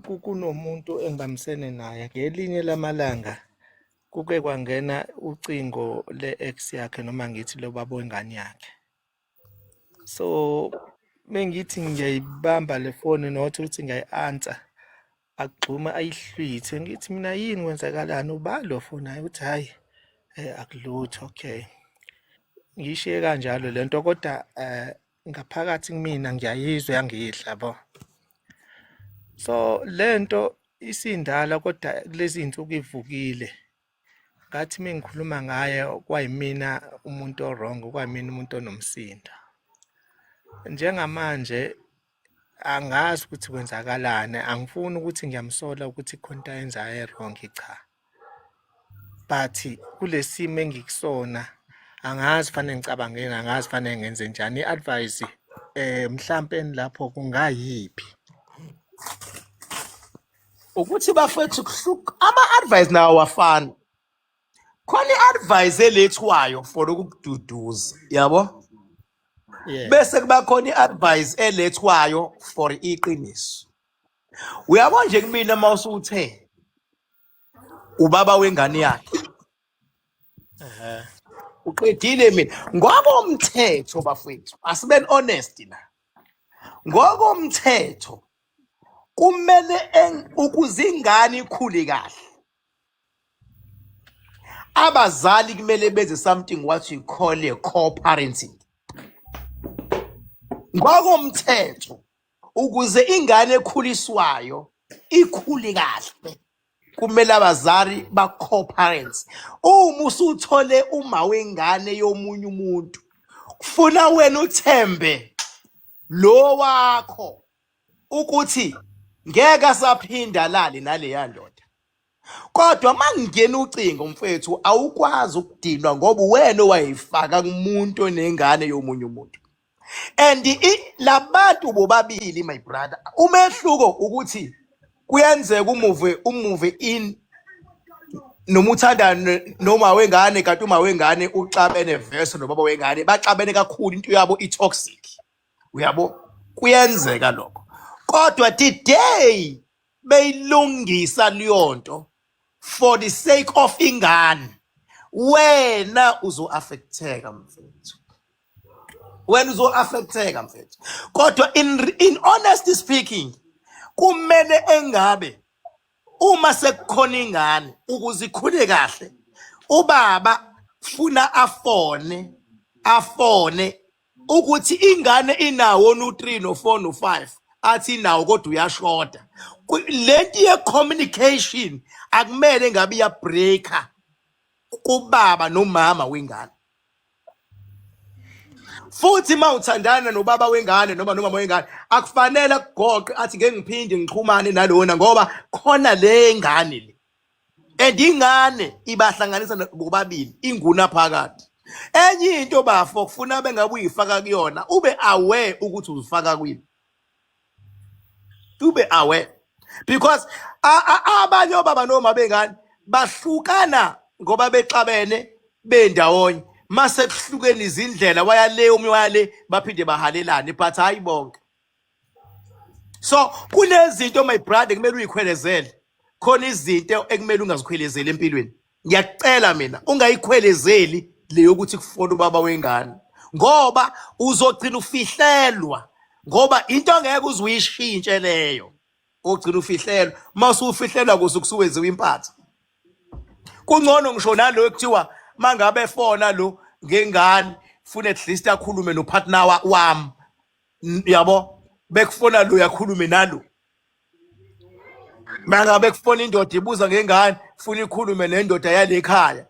kunomuntu engibambisene naye ngelinye lamalanga kuke kwangena ucingo le-ex yakhe noma ngithi lo baba wengane yakhe so mengithi ngiyayibamba le foni nothi ukuthi ngiyayi-answer agxuma ayihlwithe ngithi mina yini kwenzakalani ubani lo foni ayi ukuthi hhayi um akulutho okay ngiyishiye kanjalo le nto kodwa um ngaphakathi kumina ngiyayizwa yangidla bo so lento isindala kodwa kulezi insuku ivukile ngathi mengikhuluma ngaye kwayimina umuntu owrong kwayimina umuntu onomsindo njengamanje angazi ukuthi kwenzakalani angifuni ukuthi ngiyamsola ukuthi khona into ayenzayo e-wrong cha but kulesimo engikusona angazi fanele ngicabangeni angazi fanele ngenze njani i-advise eh mhlampe lapho kungayiphi ukuthi bafethu kuhluka ama-advise nawo wafana khona i-advise elethwayo for ukukududuza yabo yeah bese kuba khona i-advise elethwayo for iqiniso Uyabo nje kumina uma usuthe ubaba wengane yakhe Ehhe. uqedile mina ngokomthetho bafowethu asiben honest la ngokomthetho kumele en- ukuze ingane ikhule kahle abazali kumele benze something what you call a co-parenting ngokomthetho ukuze ingane ekhuliswayo ikhule kahle kumele abazali ba-co-parents uma usuthole uma wengane yomunye umuntu kufuna wena uthembe lo wakho ukuthi ngeke asaphinda lale naleya ndoda kodwa mangingena ucingo mfethu awukwazi ukudinwa ngoba wena owayifaka kumuntu onengane yomunye umuntu and labantu bobabili my brother umehluko ukuthi kuyenzeka umuve umuve in noma uthanda noma wengane kanti uma wengane uxabene verse nobaba wengane baxabene kakhulu into yabo i-toxic uyabo kuyenzeka lokho kodwa today beyilungisa leyonto for the sake of ingane wena uzo-affecteka mfethu wena uzo-affecteka mfethu kodwa in, in honesty speaking kumele engabe uma sekukhona ingane ukuze ikhule kahle ubaba funa afone afone ukuthi ingane inawo no-3 no-4 no-5 athi inawo kodwa uyashoda lento ye-communication akumele ngabe iyabreaker kubaba nomama wengane futhi uma uthandana nobaba wengane noma nomama wengane akufanele akugoqe athi ngeke ngiphinde ngixhumane nalona ngoba khona le ngane le and ingane ibahlanganisa no- bobabili inguna phakathi enye into bafo kufuna bengabe uyifaka kuyona ube aware ukuthi uzifaka kwini ube aware because a- a- abanye obaba noma bengane bahlukana ngoba bexabene bendawonye mase kuhlukene izindlela wayale omunye wayale baphinde bahalelane but hayi bonke so kunezinto my brother kumele uyikhwelezele khona izinto ekumele ungazikhwelezeli empilweni ngiyakucela mina ungayikhwelezeli le yokuthi kufona ubaba wengane ngoba uzogcina ufihlelwa ngoba into ngeke uze uyishintshe leyo ogcina ufihlelwa mase ufihlelwa kuze kusuwenziwa impatha kungcono ngisho nalo ekuthiwa mangabe efona lo ngengane funa at least akhulume nopartner wami N- yabo bekufona lo yakhulume nalo manga bekufona indoda ibuza ngengane funa ikhulume nendoda yalekhaya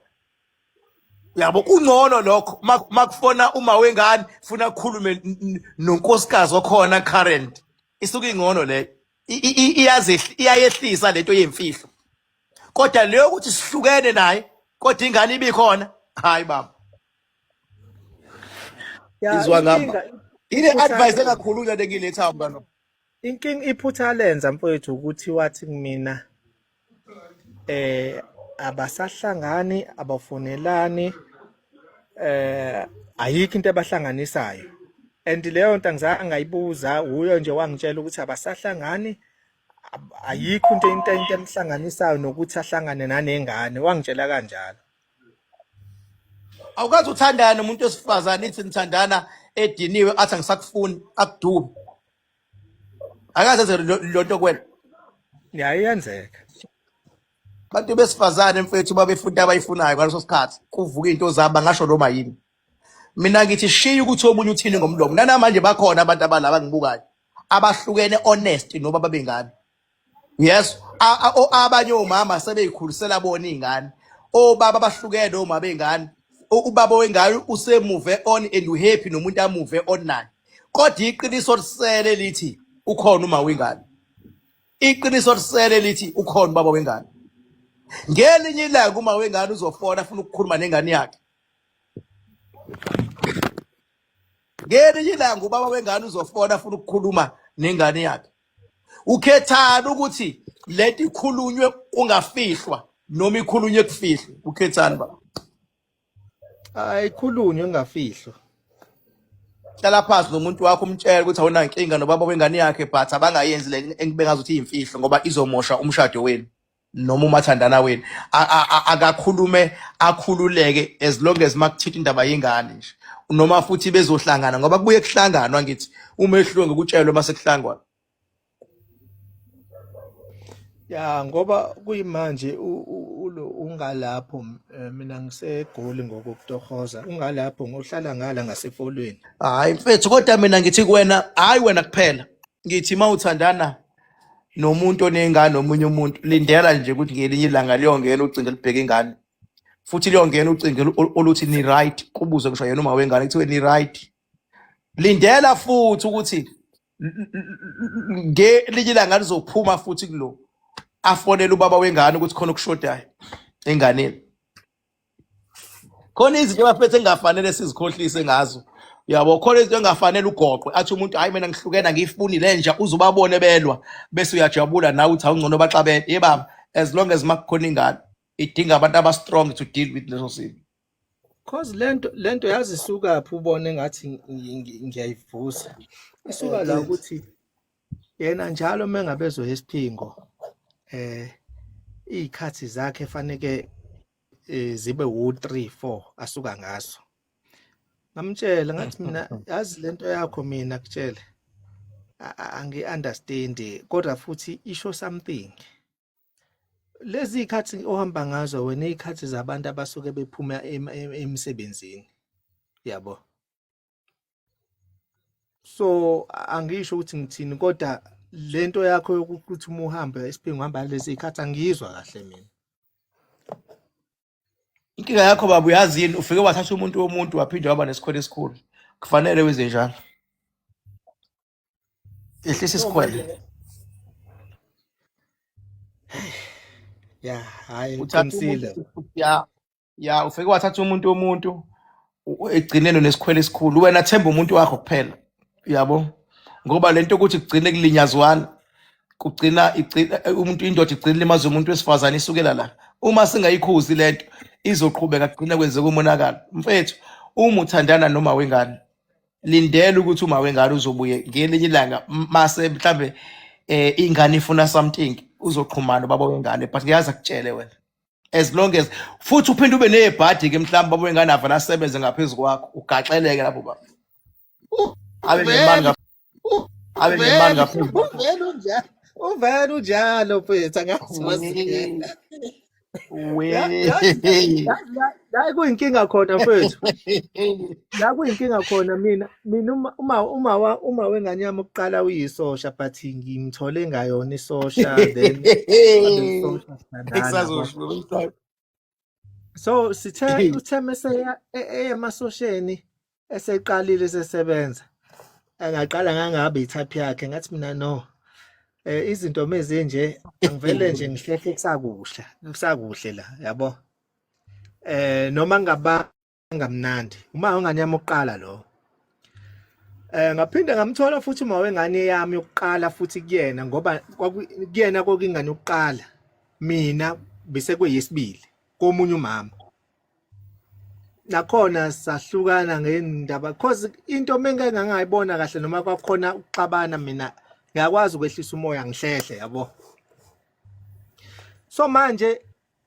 yabo kungcono lokho Ma- makufona uma wengane funa akhulume n- n- nonkosikazi okhona current isuke ingcono leyo I- i- i- iyazehli- iyayehlisa lento yemfihlo kodwa leyo ukuthi sihlukene naye kodwa ingane ibikhona hayi baba Ya, Izwa ngama. inkinga Ile iphutha advice alenza. engakhulunywa le ngiletha mntwana. Inkinga iphutha alenza mfowethu ukuthi wathi kumina eh abasahlangani abafonelani eh ayikho into ebahlanganisayo and leyo nto angizange ngayibuza uyo nje wangitshela ukuthi abasahlangani ab- ayikho into into into emhlanganisayo nokuthi ahlangane nanengane wangitshela kanjalo awukazi uthandana nomuntu wesifazane ithi nithandana ediniwe athi angisakufuni akudubi akaze enze lo- lonto kwena yayenzeka abantu besifazane mfethu babefuna into abayifunayo ngaleso sikhathi kuvuka into zabo bangasho noma yini mina ngithi shiya ukuthi omunye uthini ngomlomo nanamanje bakhona abantu abalaba ngibukayo abahlukene honest noma babengani yes A- a- o- abanye omama sebeyikhulisela bona iy'ngane obaba bahlukene omama bey'ngane U- ubaba wengane usemuve on and uhappy nomuntu amuve on naye kodwa iqiniso lisele lithi ukhona uma wengane iqiniso lisele lithi ukhona ubaba wengane ngelinye ilanga uma wengane uzofona afuna ukukhuluma nengane yakhe ngelinye ilanga ubaba wengane uzofona afuna ukukhuluma nengane yakhe ukhethani ukuthi lento ikhulunywe kungafihlwa noma ikhulunywe kufihlwe ukhethani baba ayikhulunywe kungafihlwa hlala phansi nomuntu wakho umtshele ukuthi awunankinga nobaba wengane yakhe but abangayenzi le engibengazi ukuthi iyimfihlo ngoba izomosha umshado wenu noma umathandana wenu akakhulume akhululeke as long as makuthinta indaba yengane nje noma futhi bezohlangana ngoba kubuye kuhlanganwa ngithi uma ehluke ngokutshelwe uma sekuhlangwana ya ngoba kuyimanje ulo ungalapho eh, mina ngisegoli ngokukutohoza ungalapho ngohlala ngala ngasefolweni hayi mfethu kodwa mina ngithi kuwena hayi wena kuphela ngithi uma uthandana nomuntu onengane omunye umuntu lindela nje ukuthi ngelinye ilanga liyongena ucingo elibheke ingane futhi liyongena ucingo olu- oluthi ni right kubuze ngisho yena uma wengane kuthiwe ni right lindela futhi ukuthi l- l- l- ngelinye ilanga lizophuma futhi kulo afonele ubaba wengane ukuthi khona okushodayo enganeni khona izinto abafethu engafanele sizikhohlise ngazo yabo khona izinto engafanele ugoqwe athi umuntu hayi mina ngihlukene angiyifuni le nja uze ubabone belwa bese uyajabula nawe uthi awungcono baxabene ye baba as long as makukhona ingane idinga abantu abastrong to deal with leso simo cause lento lento yazisuka phi ubone ngathi ngiyayivusa isuka la ukuthi yena njalo mengabezwe isiphingo eh izikhathi zakhe faneke eh, zibe u3 4 asuka ngaso ngamtshela ngathi mina yazi lento yakho mina kutshele angi understand kodwa futhi isho something lezi ikhathi ohamba ngazo wena izikhathi zabantu abasuke bephuma emsebenzini yabo so angisho ukuthi ngithini kodwa lento yakho yokuthi uma uhamba isiphingo uhamba lezi ikhathi angiyizwa kahle mina inkinga yakho baba uyazi yini ufike wathatha umuntu womuntu waphinde waba nesikhwele esikhulu kufanele wenze njalo ehlisa isikhwele ya hayi uqinisile ya ya ufike wathatha umuntu womuntu u- ekugcineni unesikhwele esikhulu wena themba umuntu wakho kuphela yabo ngoba lento ukuthi kugcine kulinyazwana kugcina igcina umuntu indoda igcina ilimaza umuntu wesifazane isukela la uma singayikhuzi lento izoqhubeka kugcina kwenzeka umonakalo mfethu uma uthandana noma wengane lindela ukuthi uma wengane uzobuye ngelinye ilanga m- mase mhlambe eh ingane ifuna something uzoxhumana ubaba wengane but ngiyazi akutshele wena as long as futhi uphinde ube nezibhadi ke mhlawumbe babuye nganava lasebenze ngaphezulu kwakho ugaxeleke lapho baba abe nemali ngapha abe nemali ngapha uvela unjalo uvela unjalo mfethu angazi wena we la kuyinkinga khona mfethu la kuyinkinga khona mina mina uma uma uma wa- uma wengane yami ukuqala uyisosha but ngimthole ngayona isosha then wabe isosha sithandana yabo. Esazosho umhlaba. so sithe uthe mese eya- e- eya emasosheni eseqalile sesebenza angaqala ngangabe i-type yakhe ngathi mina no eh izinto mezinje angivele nje ngihlehle kusakuhle kusakuhle la yabo eh noma ngaba ngamnandi uma ungane yami uqala lo eh ngaphinde ngamthola futhi uma wengane yami yokuqala futhi kuyena ngoba kuyena kokingane yokuqala mina bese kweyesibili komunye umama nakhona sahlukana ngendaba cause into mengeke ngangayibona kahle noma kwakhona ukuxabana mina ngiyakwazi ukwehlisa umoya ngihlehle yabo so manje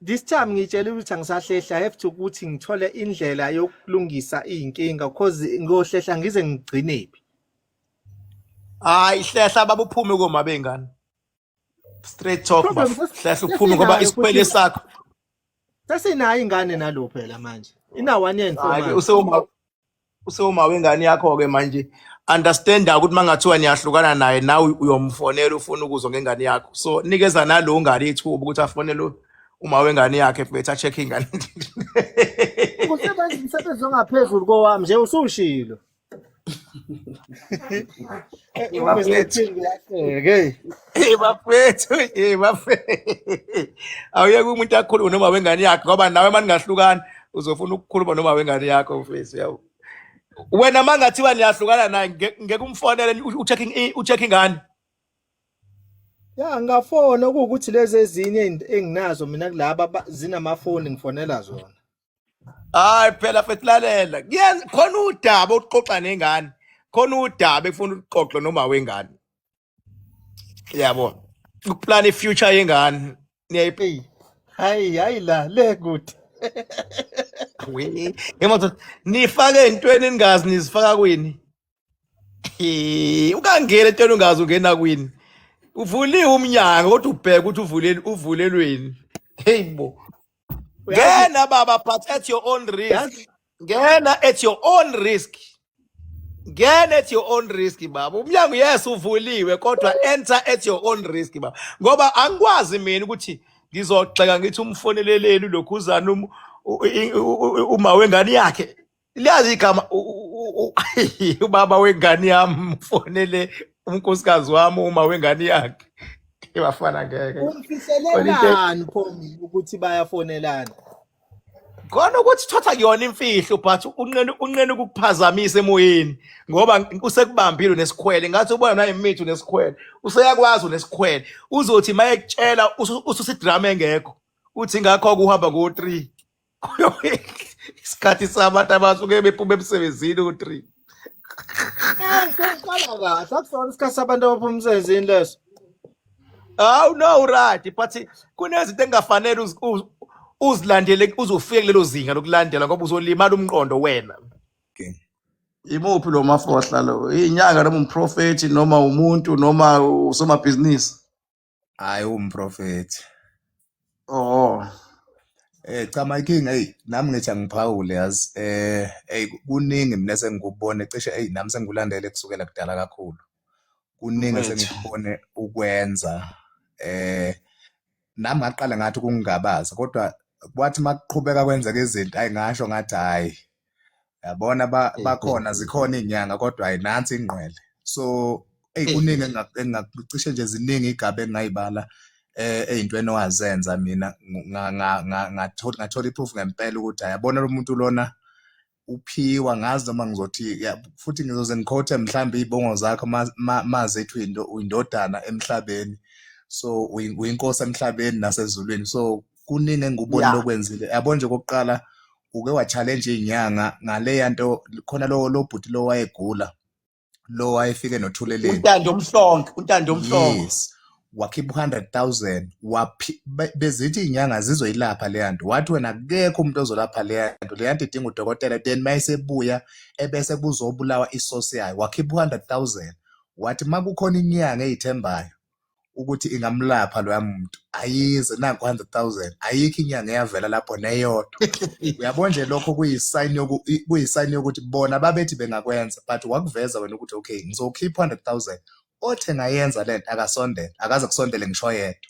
this time ngitshela ukuthi angisahlehla i have to ukuthi ngithole indlela yokulungisa izinkinga cause ngohlehla ngize ngigcinephi hayi hlehla babuphume koma bengane straight talk bafo Problem sas- hlehla uphume ngoba sasinayo isikwele futhi sakho sasinayo ingane nalo phela manje ina one year and four hayi ke months usewuma usewuma wengane yakho ke manje understand ukuthi mangathiwa niyahlukana naye nawe uyomfonela ufuna ukuzwa ngengane yakho so nikeza nalo ngane ithuba ukuthi afonele uma wengane yakhe bethi acheck ingane usebenza umsebenzi ongaphezulu kowami nje usushilo bafethu ye bafethu awuyeke umuntu akhulume noma wengane yakhe ngoba nawe uma ningahlukani uzofuna ukukhuluma noma wengane yakho mfethu yawu wena uma ngathiwa niyahlukana naye nge- ngeke umfonele ni- u- ucheck in- ucheck ingane ya ngafona kuwukuthi lezi ezinye engi- enginazo mina kulaba ba- zinamafoni ngifonela zona hayi phela fethu lalela Kuyenza- khona udaba oluxoxa nengane khona udaba ekufuna uxoxe noma wengane yabo ukuplan ifuture yengane niyayipa Eyi, hayi hayi la le kude. nifake entweni ningazi nizifaka kwini Eh, ukangena etweni ungazi ungena kwini uvuliwe umnyango kodwa ubheke ukuthi uvuleni uvulelweni hey bo Uyazi- ngena baba but at your own risk Yazi- ngena at your own risk ngena at your own risk baba umnyango yes uvuliwe kodwa enter at your own risk baba ngoba angikwazi mina ukuthi ngizogxeka ngithi umfoneleleli lokhuzana um- u- i- u- u- uma wengane yakhe liyazi igama ubaba wengane yami ufonele unkosikazi wami uma wengane yakhe ibafana ngeke umfihlelelani pho mina ukuthi bayafonelana khona ukuthi thatha kuyona imfihlo but unqene unqene ukukuphazamisa emoyeni ngoba usekubambile nesikhwele ngathi ubona naye imithi nesikhwele useyakwazi nesikhwele uzothi mayekutshela ususidrama engekho uthi ngakho kuhamba ngo 3 isikhathi sabantu abasuke bephuma emsebenzini u-three sokuqala kahle akusona isikhathi sabantu abaphuma emsebenzini leso hawu no right but kunezinto engingafanele uzilandele uzofike kulelo zinga lokulandela ngoba uzolimala umqondo wena imuphi lo mafohla lo inyanga noma umprofethi noma umuntu noma usomabhizinisi Hhayi uwumprofethi. Oh. Eh cha my king hey nami ngithi angiphawule yazi eh hey kuningi mina sengikubone cishe hey nami sengikulandele kusukela kudala kakhulu. Kuningi Mfethu. sengikubone ukwenza eh nami ngaqala ngathi ukungingabaza kodwa kwathi makuqhubeka kwenzeka izinto ayi ngasho ngathi hhayi yabona bakhona zikhona iy'nyanga kodwa hhayi nansi ingqwele so eyi kuningi engacishe nje ziningi iy'gaba engingayibala eh, ey'ntweni owazenza mina ngathola iproof ngempela ukuthi hhayi yabona lo muntu lona uphiwa ngazi noma ngizothi futhi ngizoze ngikhothe mhlawumbe iy'bongo zakho mazi ethi uyindodana emhlabeni so uyinkosi emhlabeni nasezulwini so kuningi engikubonile Yeah. okwenzile yabo nje okokuqala uke wa-challenge iy'nyanga ngaleya nto khona lo lo bhuti lo wayegula lo wayefike nothuleleni untando omhlonke untando omhlonke yes wakhipha u-hundred thousand waphi- be- bezithi iy'nyanga zizoyilapha leya nto wathi wena akekho umuntu ozolapha leya nto leya nto idinga udokotela then uma esebuya ebese kuzobulawa isosi yayo wakhipha u-hundred thousand wathi uma kukhona inyanga eyithembayo ukuthi ingamlapha loya muntu ayize naku 100000 ayikho inyanga eyavela lapho neyodwa uyabona nje lokho kuyisign yoku kuyisign yokuthi bona babethi bengakwenza but wakuveza wena ukuthi okay ngizokhipha 100000 othe ngayenza lento akasondele akaze kusondele ngisho yedwa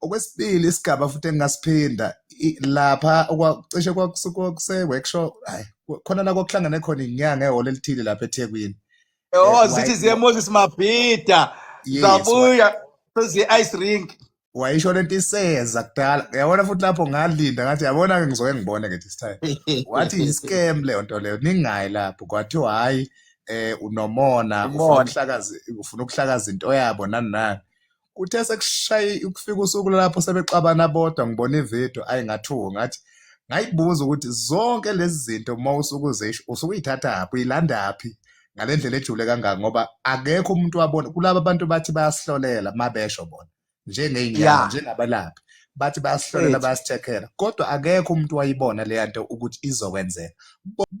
okwesibili isigaba futhi engingasiphinda i- lapha okwa- cishe kwakusu- kwakuse-workshop hayi khona la kwakuhlangane khona inyanga ehholo elithile lapha ethekwini Eh, Oh, waye- zithi ziye Moses Mabhida. yes wa- Zabuya sezi ice rink. wayisho lento iseza kudala yabona futhi lapho ngalinda ngathi yabona ke ngizoke ngibone ke this time wathi yi-scam leyo nto leyo ningayi lapho kwathiwa hhayi um unomona ufuna Umona. ukuhlakaza ufuna ukuhlakaza into yabo nani nani kuthe sekushaye ukufika usuku lapho sebexabana bodwa ngibona ivideo ayi ngathuka ngathi ngayibuza ukuthi zonke lezi zinto uma usuke uzisho usuke uyithathaphi uyilandaphi ngale ndlela ejule kangaka ngoba akekho umuntu wabona kulaba bantu bathi bayasihlolela uma besho bona njengey'nyanga njengabalaphi bathi bayasihlolela bayasithekela kodwa akekho umuntu wayibona leya nto ukuthi izokwenzeka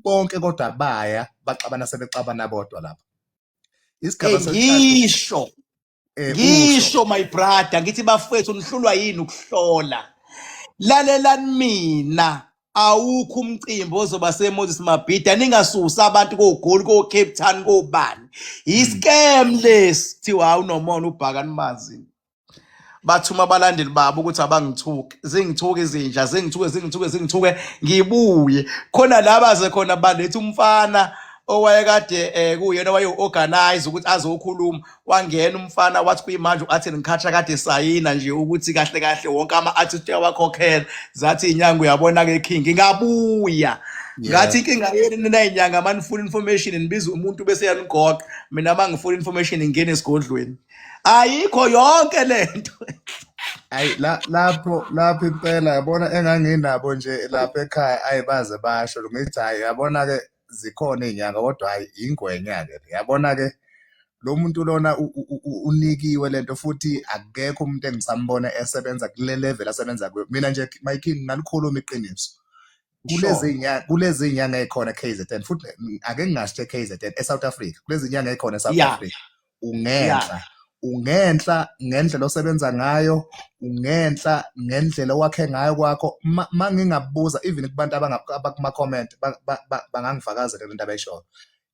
bonke kodwa baya baxabana sebexabana bodwa lapho isigaba ngisho eh, usho ngisho my brother ngithi bafethu nihlulwa yini ukuhlola lalelani mina awukho umcimbi ozoba semoses mabhida ningasusi abantu kogoli kocape town kobani mm. yiscam lesi kuthiwa hawu nomona ubhaka nimazi bathuma abalandeli babo ukuthi abangithuke zingithuke izinja zingithuke zingithuke zingithuke ngibuye khona laba ze khona baletha umfana owayekade eh kuyena waye organize ukuthi azokhuluma wangena umfana wathi kuyimanje u-artin ngikhatsha kade esayina nje ukuthi kahle kahle wonke ama-artist uyawakhokhela zathi inyanga uyabona-ke king ngabuya ngathi inkinga yenu ninay'nyanga uma nifuna information nibiza umuntu bese yanigoqa mina uma ngifuna information ngingene esigodlweni ayikho yonke le nto ayi la- lapho lapho impela yabona enganginabo nje lapha ekhaya ayi baze basho ngithi hayi yabona-ke zikhona izinyanga kodwa hayi ingwenya-ke yabona-ke lo muntu lona unikiwe lento futhi akekho umuntu engisambona esebenza kule level asebenza kuyo mina nje my king ngalikhuluma iqiniso kulezi nyanga kulezi nyanga ekhona KZN futhi ake ngingasho KZN eSouth Africa kulezi nyanga ekhona eSouth Africa ungenhla ungenhla ngendlela osebenza ngayo ungenhla ngendlela owakhe ngayo kwakho uma ngingabuza even kubantu abakuma-comment bangangifakazela le nto abayishoyo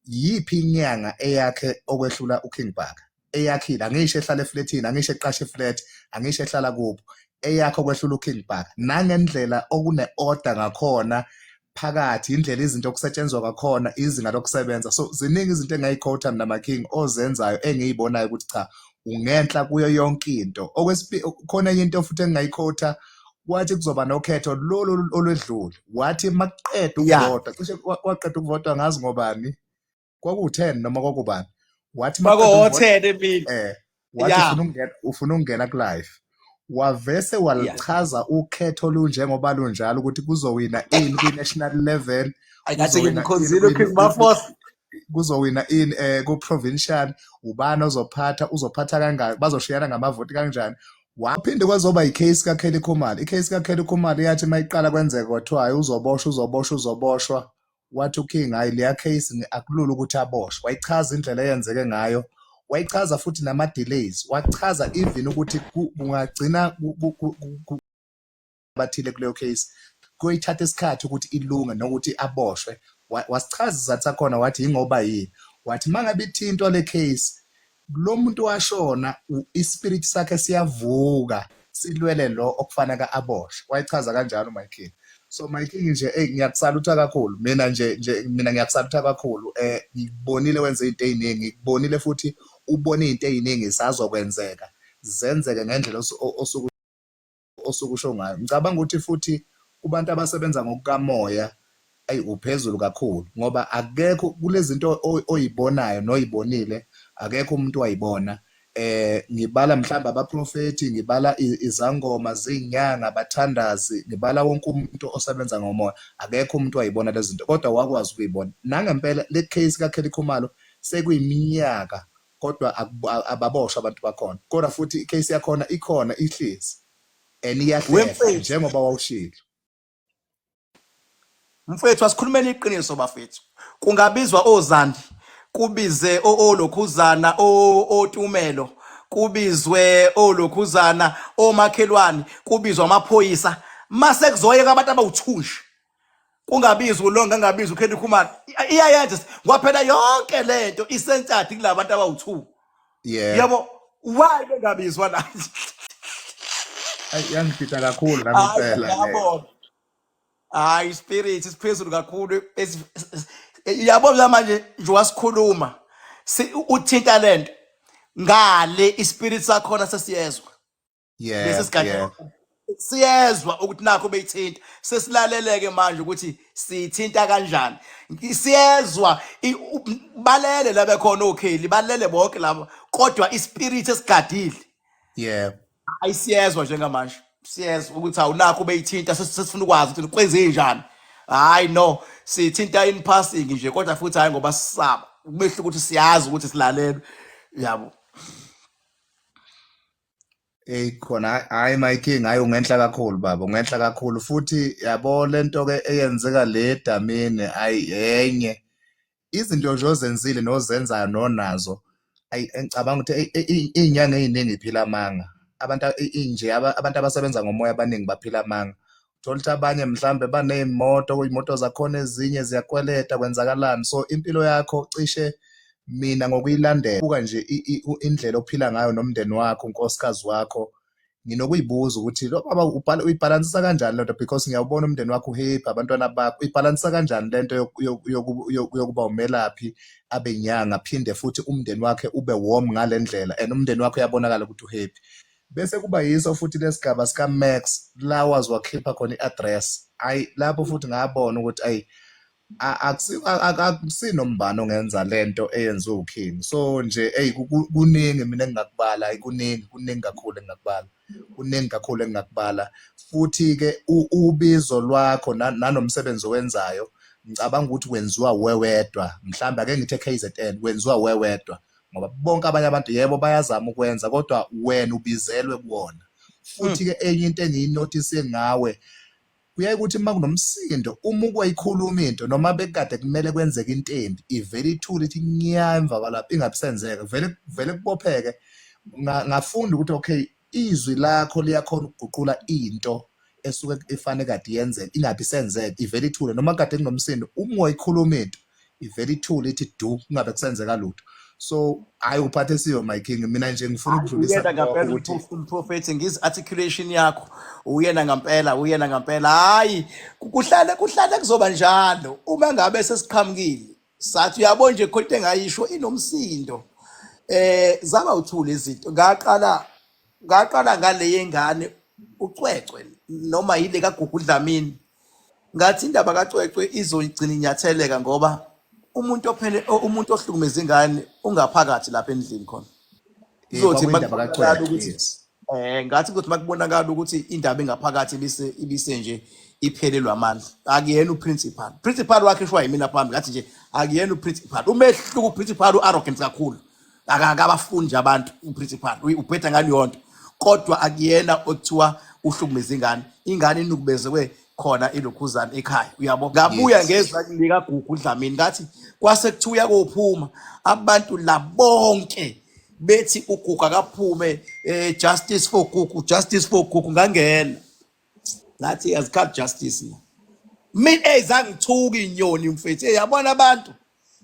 yiphi inyanga eyakhe okwehlula uking baka eyakhile angisho ehlala efletini angisho eqasha iflet angisho ehlala kubo eyakho kwehlula uking baka nangendlela okune-order ngakhona phakathi indlela izinto okusetshenzwa kakhona izinga lokusebenza so ziningi izinto engayikhotha mina making ozenzayo engiyibonayo ukuthi cha ungenhla kuyo yonke into okwesibili khona enye into futhi engingayikhotha wathi kuzoba nokhetho lolu olwedlule wathi makuqeda ukuvota cishe waqeda ukuvota ngazi ngobani kwaku-ten noma kwakubani wathi uma qeda ukuvote bakohothene emini eh wathi ya ufuna ukungena ufuna ukungena kulive wavese ya walichaza ukhetho olunjengoba lunjalo ukuthi kuzowina ini kwi-national level ayi ngathi kuzowina ini ngimkhonzile kwi- uking kwi- kwi- mafosa kuzowina ini eh ku-provincial ubani ozophatha uzophatha kangaki bazoshiyana ngamavoti kanjani waphinde kwazoba i-case kaKelly Khumalo i-case kaKelly Khumalo yathi uma iqala kwenzeka kwathiwa hayi uzoboshwa uzoboshwa uzoboshwa wathi uKing hayi leya case ni- akulula ukuthi aboshwe wayichaza indlela eyenzeke ngayo wayichaza futhi nama-delays wachaza even ukuthi ku- kungagcina ku- ku- ku- ku- ku- abathile kuleyo case kuyithatha isikhathi ukuthi ilunge nokuthi aboshwe Wa- wasichaza isizathu sakhona wathi yingoba yini wathi uma ngabe ithintwa le case lo muntu washona ispirit sakhe siyavuka silwele lo okufanaka aboshwe wayechaza kanjalo my king so my king nje hey ngiyakusalutha kakhulu mina nje nje mina ngiyakusalutha kakhulu eh ngikubonile wenze izinto eziningi ngikubonile futhi ubone izinto eziningi sazokwenzeka zenzeke ngendlela osuku osuke usho ngayo ngicabanga ukuthi futhi kubantu abasebenza ngokukamoya ayi uphezulu kakhulu ngoba akekho kulezinto oyibonayo noyibonile akekho umuntu wayibona eh ngibala mhlamba abaprofeti ngibala izangoma zinyanga bathandazi ngibala wonke umuntu osebenza ngomoya akekho umuntu wayibona lezinto kodwa wakwazi ukuyibona nangempela le case ka Kelly Khumalo sekuyiminyaka kodwa ababoshwa abantu bakhona kodwa futhi icase yakhona ikhona ihlezi and iyahlehla njengoba wawushilo mfethu asikhulumeni iqiniso bafethu kungabizwa ozandi kubize olokhuzana otumelo kubizwe olokhuzana omakhelwane kubizwa amaphoyisa mase kuzoyeka abantu abawuthunje kungabizi ulonga ngabizi ukhendi khumana iyayenza kwaphela yonke lento isentsadi kulabantu abawu2 yeah yabo why bengabizwa la Ay, yangifitha kakhulu nami hayi impela le yabo hayi ispirit isiphezulu kakhulu esi- es- es- yabo la manje nje wasikhuluma si- uthinta lento ngale ispirit sakhona sesiyezwa yeah lesi sigadla yeah siyezwa ukuthi nakho beyithinta sesilaleleke manje ukuthi sithinta kanjani siyezwa i- u- balele la bekhona okheli balele bonke laba kodwa ispirit esigadile yeah ayi siyezwa njengamanje siyezwa ukuthi awunakho beyithinta ses- sesifuna ukwazi ukuthi kwenzenjani hayi no sithinta in passing nje kodwa futhi hayi ngoba sisaba kumehluko ukuthi siyazi ukuthi silalelwe yabo Ey khona hayi my king hayi ungenhla kakhulu baba ungenhla kakhulu futhi yabo lento ke eyenzeka le damini ayi enye izinto nje ozenzile nozenzayo nonazo ayi engicabanga ukuthi izinyanga eziningi iphila amanga abantu inje abantu abasebenza ngomoya abaningi baphila amanga thola ukuthi abanye mhlambe baneyimoto kuyimoto zakhona ezinye ziyakweleta kwenzakalani so impilo yakho cishe mina ngokuyilandela buka nje indlela ophila ngayo nomndeni wakho unkosikazi wakho nginokuyibuza ukuthi lo baba ubhala uyibhalansisa kanjani lento because ngiyawubona umndeni wakho uhappy abantwana bakho uyibhalansisa kanjani lento yokuba umelaphi abenyanga phinde futhi umndeni wakhe ube warm ngalendlela and umndeni wakho uyabonakala ukuthi uhappy Bese kuba yiso futhi lesigaba sika Max lawas wakhipha khona iaddress. Ay lapho futhi ngabona ukuthi ay akusinombani ongenza lento eyenziwe uKing. So nje ey kuningi mina engingakubala, ay kuningi kuningi kakhulu engingakubala. Kuningi kakhulu engingakubala. Futhi ke ubizo lwakho nanomsebenzi owenzayo ngicabanga ukuthi wenziwa wewedwa. Mhlawumbe ake ngithi eKZN wenziwa wewedwa. ngoba bonke abanye abantu yebo bayazama ukwenza kodwa wena ubizelwe kuwona futhi ke enye into engiyinotice ngawe kuyaye ukuthi uma kunomsindo uma ukwayikhuluma into noma bekade kumele kwenzeke into embi ivele ithule ithi nya emva kwalapho ingabisenzeka vele vele kubopheke ngafunda ukuthi okay izwi lakho liyakhona ukuguqula into esuke ifanele kade yenzeka ingabe isenzeka ivele ithule noma kade kunomsindo uma wayikhuluma into ivele ithule ithi du kungabe kusenzeka lutho so hayi uphathe siyo my king mina nje ngifuna ukudlulisa uyena ngampela ukuthi umprof- umprofethi ngiz articulation yakho uyena ngampela uyena ngampela hayi ku- kuhlale kuhlale kuzoba njalo uma ngabe sesiqhamukile sathi uyabo nje khona into engayisho inomsindo eh zaba uthule izinto ngaqala ngaqala ngale yengane ucwecwe noma yile kagugu dlamini ngathi indaba kacwecwe izoyigcina inyatheleka ngoba umuntu ophele o- umuntu ohlukumeza ingane ungaphakathi lapha endlini khona Eh, izothi kwakuyindaba kacwecwe, makuqala ukuthi yes. Eh ngathi ukuthi makubonakala ukuthi indaba engaphakathi ibise ibise nje iphelelwa amandla. Akuyena uprincipal. Principal wakhe shwa yimina phambi ngathi nje akuyena uprincipal. Umehluko uprincipal uarrogant kakhulu. Akakabafundi nje abantu uprincipal. Uyi- Ubheda ngani yonto. Kodwa akuyena othiwa uhlukumeza ingane. Ingane inukubezwe khona ilokhuzana ekhaya uyabo ngabuya Yes. ngezwa lika gugu dlamini ngathi kwase kuthiwa uyakophuma abantu la bonke bethi ugugu akaphume eh, justice for gugu justice for gugu ngangena ngathi azikhathi justice la mina ey zangithuka inyoni mfethu ey yabona abantu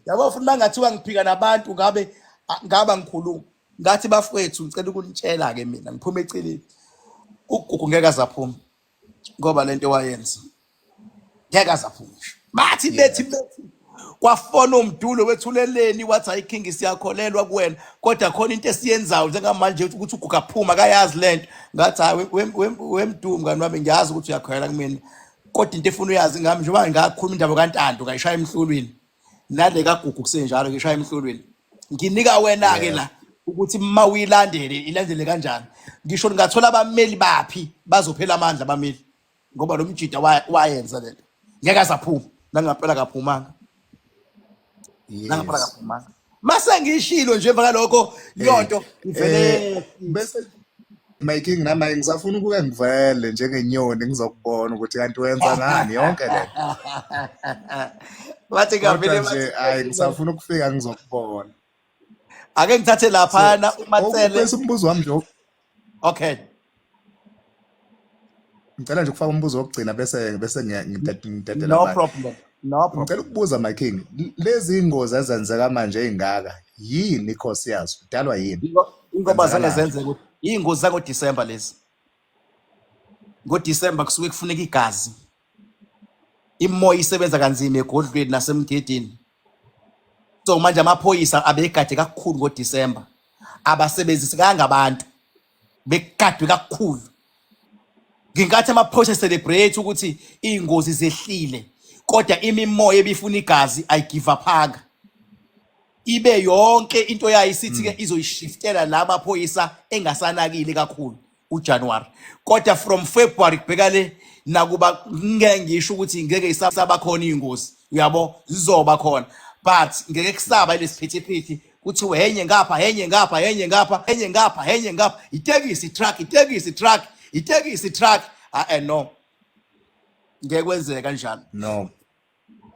yabo futhi mangathiwa ngiphika nabantu ngabe a- ngaba ngikhuluma ngathi bafowethu ngicela ukunitshela ke mina ngiphume eceleni ugugu ngeke azaphuma ngoba lento wayenza ngeke azaphumusha bathi bethi yeah bethi kwafona umdulo wethuleleni wathi hayi king siyakholelwa kuwena kodwa khona into esiyenzayo njengamanje ukuthi uguga phuma kayazi lento ngathi hayi we- we- we- wemdumo mngani wami ngiyazi ukuthi uyakholelwa kumina kodwa into efuna uyazi ngami njengoba ngakhuluma indaba kantando ngayishaya emhlulwini nale kagugu kusenjalo ngishaya emhlulwini nginika wena ke la ukuthi uma uyilandele ilandele kanjani ngisho ningathola abameli baphi bazophela amandla abameli ngoba lo mjida wa- wayenza lento ngeke azaphuma nangampela kaphumanga nangampela yes kaphumanga mase ngishilo nje emva kalokho eh yonto eh ivele bese my king nami ngisafuna ukuke ngivele njengenyoni ngizokubona ukuthi kanti wenza ngani yonke le wathi kavele nje hayi ngisafuna ukufika ngizokubona ake ngithathe laphana umatsele umbuzo wami nje okay ngicela nje ukufaka umbuzo wokugcina bese bese ngidedela no problem no problem ngicela ukubuza my king lezi ingozi ezenzeka manje ezingaka yini inkosi yazo kudalwa yini ingoba zange zenzeke ingozi zako December lezi ngo December kusuke kufuneka igazi imoya isebenza kanzima egodlweni nasemgedini so manje amaphoyisa abegade kakhulu ngo December abasebenzisi kanga abantu bekugadwe kakhulu ngenkathi amaphoyisa celebrate ukuthi iy'ngozi zehlile kodwa imimoya ebifuna igazi ayigive aphanga ibe yonke into yayo isithi-ke hmm. izoyishiftela la maphoyisa engasanakile kakhulu ujanuwari kodwa from february kubheka le nakuba ngeke ngisho ukuthi ngeke isabakhona iy'ngozi uyabo zizoba khona but ngeke kusaba ilesiphithi phithi kuthiwe henye ngapha henye ngapha henye ngapha henye ngapha henye ngapha itekisi truck itekisi truck itekisi truck ah eh, no ngeke kwenzeke kanjalo no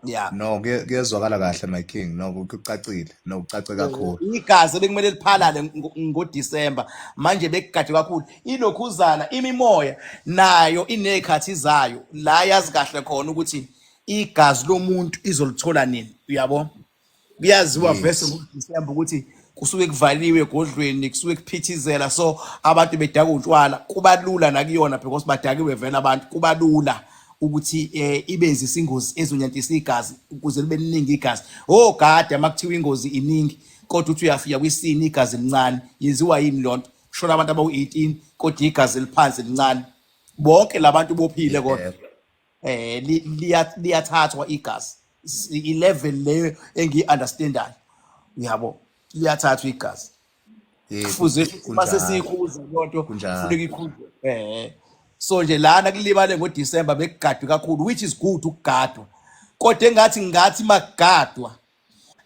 yeah no kuyezwakala kahle my king no kucacile no kucace kakhulu igazi ebekumele liphalale ngoDecember manje bekugade kakhulu ilokhuzana imimoya nayo inezikhathi zayo la yazi kahle khona ukuthi igazi lomuntu izolithola nini uyabo kuyaziwa vese yes ngoDisemba ukuthi kusuke kuvaliwe egodlweni kusuke kuphithizela so abantu bedaka utshwala kuba lula nakuyona because badakiwe vele abantu kuba lula ukuthi eh, ibenzisa ingozi ezonyantisa igazi ukuze libe liningi igazi oh gade uma kuthiwa ingozi iningi kodwa uthi uyafika kwisini igazi elincane yenziwa yini loo nto kushona abantu abawu-18 kodwa igazi eliphansi elincane bonke la bantu bophile kodwa yebo eh li- liya- liyathathwa igazi S- i-level leyo engiyi-understandayo uyabo liyathathwa igazi Eh, ku- kufuze ku- uma kunjalo sesiyikhuza leyo nto kunjalo kufuneka ikhuzwe eh so nje lana kulibale ngodisemba bekugadwe kakhulu which is good ukugadwa kodwa engathi ngathi makugadwa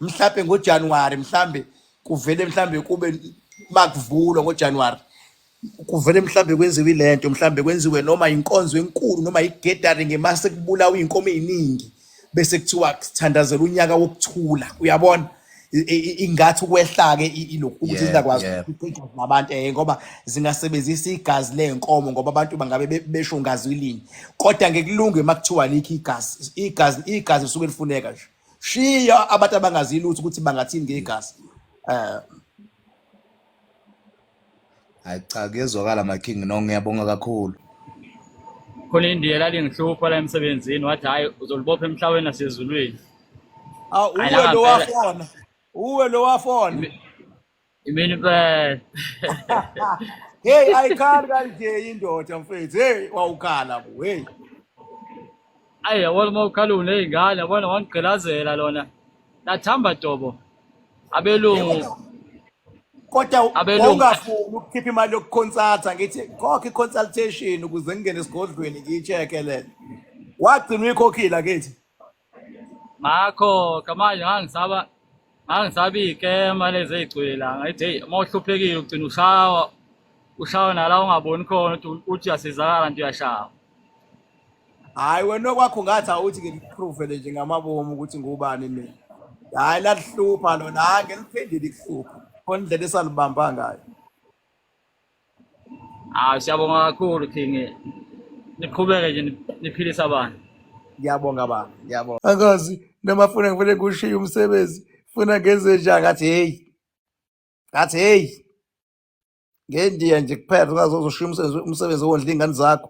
mhlawumbe ngojanuwari mhlawumbe kuvele mhlawumbe kube makuvulwa ngojanuwari kuvele mhlawumbe kwenziwe le nto mhlawumbe kwenziwe noma inkonzo enkulu noma i-gathering uma sekubulawa iy'nkomo ey'ningi bese kuthiwa sithandazela unyaka wokuthula uyabona I- i- i- ingathi ukwehla-ke i- ilokhu ukuthi Yep, zingakwazi yep. ukuqeqeza nabantu um ngoba zingasebenzisa igazi ley'nkomo ngoba abantu bangabe be- besho ngazi ilinye kodwa ngekulunge uma kuthiwa likho igazi igazi igazi lisuke lifuneka nje shiya abantu abangazi lutho ukuthi bangathini ngegazi eh hayi cha kuyezwakala my king no ngiyabonga kakhulu khona indiya lalingihlupha la emsebenzini wathi hhayi uzolibopha emhlabeni nasezulwini awu uwe lo wafona uwe lo wafona Imini impela. Hey ayikhali kanje indoda mfethu. Hey wawukhala bo. Hey. Ayi yabona uma ukhala uney'ngane yabona wangigqilazela lona. Lathamba dobo. Abelungu. Kodwa Abelungu. wawungafuni ukukhipha imali yokukhonsatha ngithi khokhe i-consultation ukuze ngingene esigodlweni ngiyi-check-e lena. Wagcina uyikhokhile akithi. ngakho kamanje ngangisaba ngangisabi ikema lezi ey'gcwela ngayithi heyi uma uhluphekile ugcina ushawa ushawe nala ungaboni khona ukuthi uthi uyasizakala nto uyashawa hhayi wena okwakho ngathi awuthi ngilipruvele nje ngamabomu ukuthi ngubani mina hhayi lalihlupha lona hhayi ngeliphendile ikuhlupha khona indlela esalibamba ngayo Ah siyabonga kakhulu King. Niqhubeke nje niphilisa abantu. Ngiyabonga ba, ngiyabonga. Angazi noma funa ngivele kushiye umsebenzi, funa ngenze njani ngathi hey. Ngathi hey. Ngendiya nje kuphela ungaze uzoshiya umsebenzi umsebenzi owondla ingane zakho.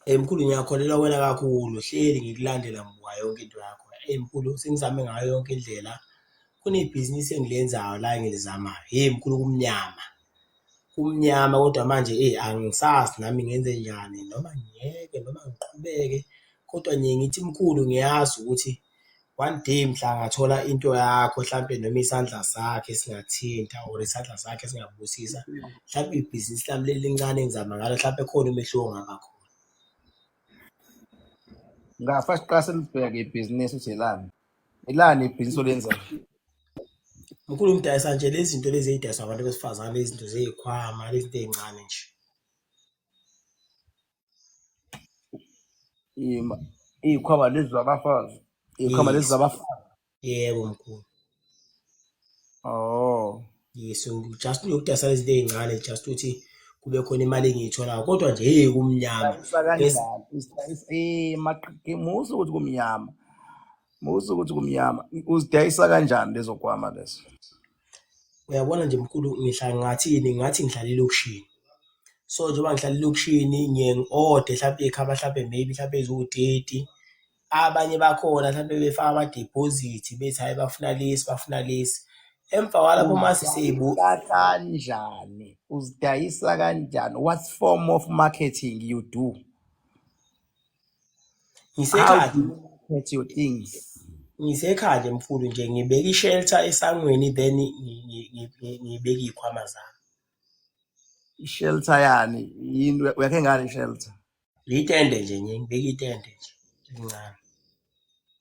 Eyi mkhulu ngiyakholelwa kuwena kakhulu, hleli ngikulandela muka yonke into yakho. Eyi mkhulu sengizame ngayo yonke indlela, kunebhizinisi engilenzayo la engilizamayo. Hheyi mkhulu kumnyama, kumnyama kodwa manje eyi angisazi nami ngenze njani noma ngiyeke noma ngiqhubeke, kodwa ngiye ngithi mkhulu ngiyazi ukuthi. one day mhla angathola into yakho hlampe noma isandla sakhe singathinta or isandla sakhe singabusisa hlampe ibhizinisi lami leli lincane engizama ngalo hlampe khona umehluko ongaba khona ngafa siqase libheke ibhizinisi ukuthi elani elani ibhizinisi olenzayo mkhulu umdayisa nje lezi zinto lezi ey'dayiswa abantu besifazane lezi zinto zey'khwama lezi zinto ey'ncane nje Ima- iy'khwama lezi zabafazi iy'khwama lezi Yes. zabafazi Yebo mkhulu. oh Yes, ngi- just ngiyokudayisa lezi zinto ey'ncane just ukuthi kube khona imali engiyitholayo kodwa nje hey kumnyama. Yes. sakanjani Usidayisa- eh, maqi- musa ukuthi kumnyama musa ukuthi kumnyama uzidayisa kanjani lezo kwama lezo Uyabona nje mkhulu ngihlala ngingathini, ngingathi ngihlala elokishini. So, njengoba ngihlala elokishini ngiye ngi-ode hlampe ikhava hlampe maybe hlampe eziwu-thirty. Abanye bakhona hlampe befaka amadiphozithi bethi hhayi bafuna lesi, bafuna lesi. Emva kwalapho uma sesibu Uzidayisa kanjani? Uzidayisa kanjani? What form of marketing you do? ngisekhaya with your things ngisekhaya nje mfulu nje ngibeka i-shelter esangweni then ngi- ngi- ngi- ngi- ngibeke iy'khwama zami ishelter yani yini uyakhe ngani ishelter litende nje nje ngibeka itende nje elincane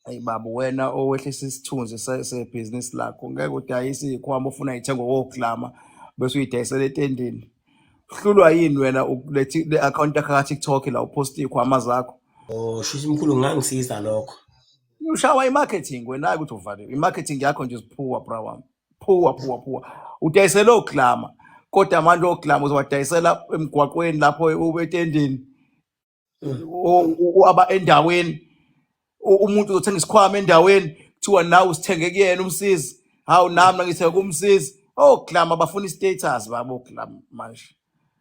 Hey baba wena owehlisa isithunzi se- sebhizinisi lakho ngeke udayise ikhwama ofuna ithenge woklama bese uyidayisela etendeni uhlulwa yini wena ukulethi le account yakho ka-tiktok la uphosta ikhwama zakho Oh, shuthi mkhulu ngangisiza lokho. ushawa i-marketing wena-ke ukuthi uvaliwe i-marketing yakho nje ziphuwa bra wami phuwa phuwa phuwa udayisela oklama kodwa amandla oklama uzowadayisela emgwaqweni lapho ube etendeni aba endaweni umuntu uzothenga isikhwama endaweni kuthiwa nawe usithenge kuyena umsizi hawu nami ngithenge kumsizi oh glama bafuna i-status babo glama manje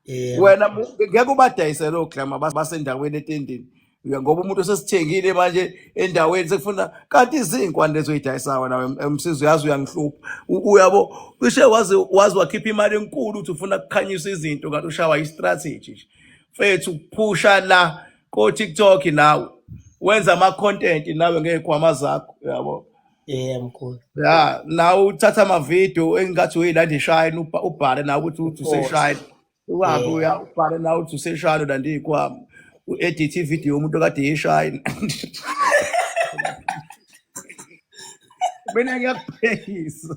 yebo wena mu- ngeke ubadayise lo glama bas- basendaweni etendini Ya, ngoba umuntu osesithengile manje endaweni sekufuna kanti izinkwa lezo uyidayisayo nawe em- emsizi uyazi uyangihlupha U- uyabo cishe waze waze wakhipha imali enkulu ukuthi ufuna kukhanyisa izinto kanti ushawa i-strategy nje mfethu phusha la ko TikTok nawe wenza ama content nawe ngezikhwama zakho yabo yeah mkhulu ya nawe uthatha ama video engathi uyilanda ishayini ubha- ubhale nawe ukuthi uthi of course useshayini uhambe yeah uya ubhale nawe uthi useshayini ulanda izikhwama u-edit ivideo yomuntu okade yishayini mina ngiyakuphekisa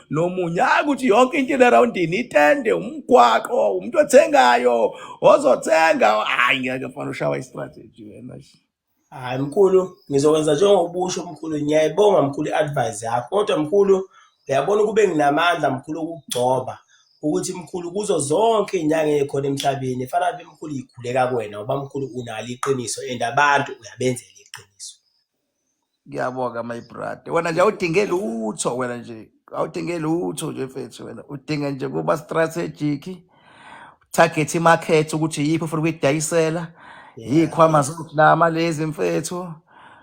nomunye hayi ukuthi yonke into ilerowundini itende umgwaqo umuntu othengayo ozothenga hayi ngeke fana ushawa istrategy wena hayi mkhulu ngizokwenza njengobusho mkhulu ngiyayibonga mkhulu i-advise yakho kodwa mkhulu uyabona ukube nginamandla mkhulu okugcoba ukuthi mkhulu kuzo zonke iy'nyanga ey'khona emhlabeni fana be mkhulu yikhuleka kuwena ngoba mkhulu unalo iqiniso and abantu uyabenzela iqiniso ngiyabonga my brother wena nje awudinge lutho wena nje awudinge lutho nje mfethu wena udinga nje kuba strategic target market ukuthi yiphi ufuna ukuyidayisela yikhwama zokulama lezi mfethu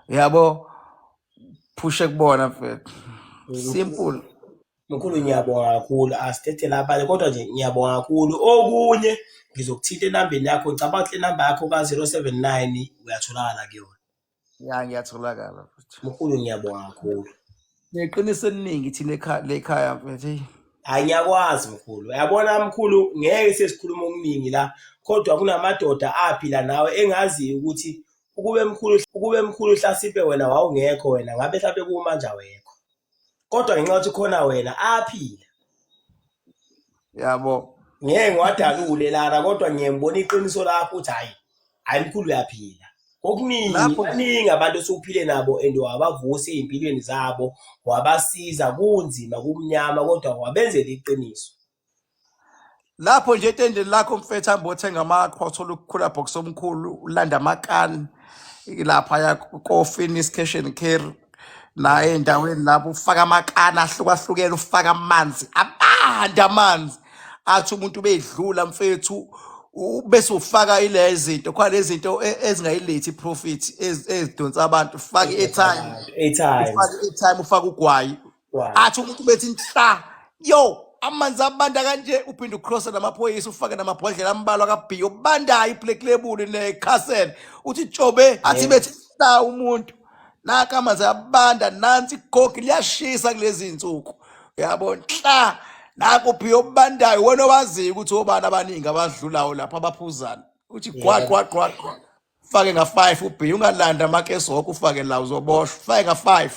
yabo phushe kubona mfethu simple mkhulu ngiyabonga kakhulu asithethe labanye kodwa nje ngiyabonga kakhulu okunye ngizokuthinta enambeni yakho ngicabanga ukuthi le namba yakho ka-079 uyatholakala kuyona ya ngiyatholakala futhi mkhulu ngiyabonga mkhulu neqiniso eliningi thina ekha- le khaya mfethu eyi. hayi ngiyakwazi mkhulu yabona mkhulu ngeke sesikhuluma okuningi la kodwa kunamadoda aphi la nawe engaziyo ukuthi ukube mkhulu ukube mkhulu hlasimpe wena wawungekho wena ngabe mhlampe kumanje awekho kodwa ngenxa ukuthi khona wena aphila yabo ngeke ngiwadalule lana kodwa ngiyembona iqiniso lakho ukuthi hayi hayi mkhulu uyaphila okuningi Lapho- baningi abantu esiwuphile nabo and wabavusa ey'mpilweni zabo wabasiza kunzima kumnyama kodwa wabenzela iqiniso lapho nje etendeni lakho mfethu hambe othenga amakho uthola ukukhula box omkhulu ulanda amakani lapha ya kofini iscation care naye endaweni lapho ufaka amakani ahlukahlukene ufaka amanzi abanda amanzi athi umuntu bedlula mfethu u- bese ufaka ile zinto khona lezinto e- ezingayilethi profit ez- ezidonsa abantu ufaka i-airtime Airtime. ufaka i-airtime ufaka ugwayi Wow. athi umuntu bethi nhla yo amanzi abanda kanje uphinde ucrosse namaphoyisa ufake namabhodlela ambalwa kabhiyo bandayo iblack label necastle uthi jobe athi Hey. bethi nhla umuntu naka amanzi abanda nansi igogi liyashisa kulezi nsuku uyabo nhla naku phiyo obandayo wena owaziyo ukuthi obani abaningi abadlulayo lapha abaphuzana uthi gwa Yebo. gwa gwa gwa fake nga-five ubhiya ungalanda amakesi woke ufake la uzoboshwa fake nga-five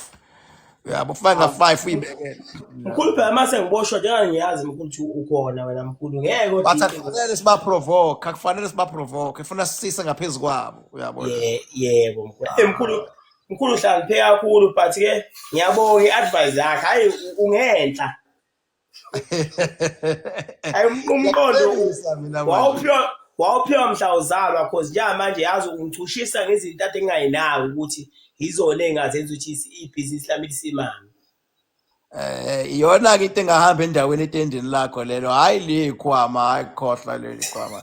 yabo ufake nga-five uyibekele mkhulu phela uma sengiboshwa njenga ngiyazi mkhulu ukuthi ukhona wena mkhulu ngeke but kodwa akufanele sibaprovoke akufanele sibaprovoke kufuna sisise ngaphezu kwabo uyabona Ye- yebo mkhulu Eh, mkhulu mkhulu hlangiphe kakhulu but ke ngiyabonga i-advice yakhe hhayi u- ungenhla Ayi um- umqondo u- Ngiyakubonisa mina manje. wawuphiwa wawuphiwa mhla uzalwa cause njenga manje yazi ungichushisa ngezinto ade ngingayinaki ukuthi yizona engazenza ukuthi isi- ibhizinisi lami lisimame Eh iyona ke into engahamba endaweni etendeni lakho lelo. Hayi le khwama, hayi khohla leli khwama.